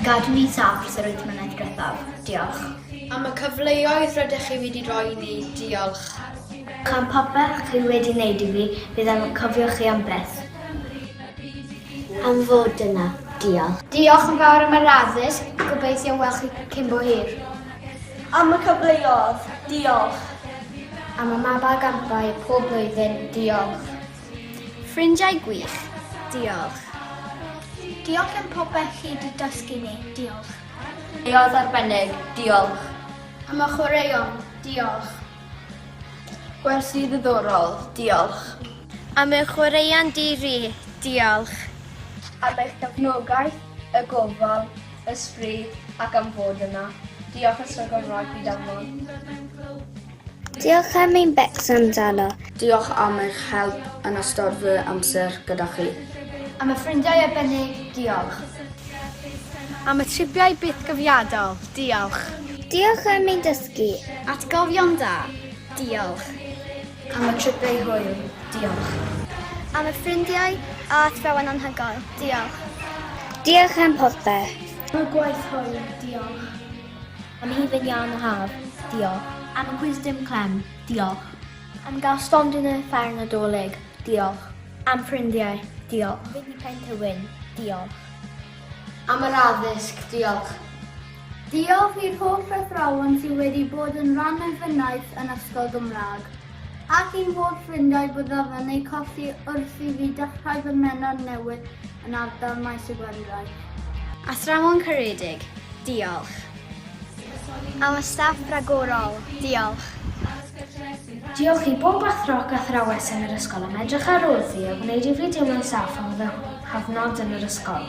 Gadw ni saff dros yr wyth mlynedd diwethaf. Diolch. Am y cyfleoedd rydych chi wedi rhoi i ni. Diolch. Am popeth chi wedi wneud i fi, bydd yn cofio chi am byth. Am fod yna. Diolch. Diolch yn fawr am yr addysg, gobeithio weld chi cyn bo hir. Am y cyfleodd, diolch. Am y mab a gampau pob blwyddyn, diolch. Ffrindiau gwych, diolch. Diolch am popeth chi di dysgu ni, diolch. Leodd arbennig, diolch. Am y chwaraeon, diolch. Gwersi ddiddorol, diolch. Am y chwaraeon di-ri, diolch. Am eich gefnogaeth, y gofal. Esprit ac am fod yna. Diolch Ysgol Gymraeg Byd Amlon. Diolch am ein becso amdano. Diolch am eich help yn ystod fy amser gyda chi. Am y ffrindiau arbennig, diolch. Am y tribiau bythgofiadol, diolch. Diolch am ein dysgu. Atgofion da, diolch. Am y tripau hwyl, diolch. Am y ffrindiau a athrawon anhygoel, diolch. Diolch am popeth. Am y gwaith hwyl, diolch. Am hufen iân y haf, diolch. Am y cwis dim clem, diolch. Am gael stondin yn y fferm Nadolig, diolch. Am ffrindiau, diolch. Am fyd i Pent y Wyn, diolch. Am yr addysg, diolch. Diolch i'r holl athrawon sydd wedi bod yn rhan o'i fynaich yn Ysgol Gymraeg, ac i'n holl ffrindiau byddaf yn eu colli wrth i fi dechrau fy mennod newydd yn ardal Maes y Gwendraeth. Athrawon caredig, diolch. Am y staff ragorol, diolch. Diolch i bob athro ac athrawes yn yr ysgol am edrych ar wrth i a gwneud i fi deimlo'n saff am fy nghyfnod yn yr ysgol.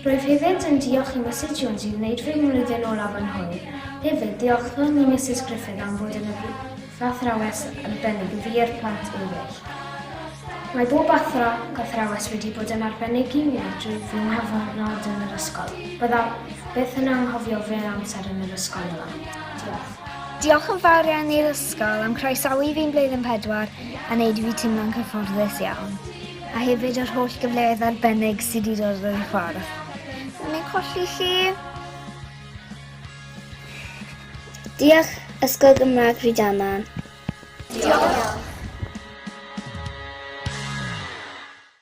Rwyf hefyd yn diolch i Misus Jones i wneud fy mlwyddyn olaf yn hwyl. Hefyd, diolchwn i Misus Griffith am fod yn athrawes arbennig i fi a'r plant eraill. Mae bob athro ac athrawes wedi bod yn arbennig i mi drwy fy nghyfnod yn yr ysgol. Byddaf byth yn anghofio fy amser yn yr ysgol yma. Diolch. Diolch yn fawr iawn i'r ysgol am croesawu fi yn blwyddyn pedwar a wneud i fi teimlo'n cyfforddus iawn. a hefyd yr holl gyfleoedd arbennig sydd wedi dod yn y ffordd. O'n i'n colli chi. Diolch Ysgol Gymraeg Rhydama. Diolch.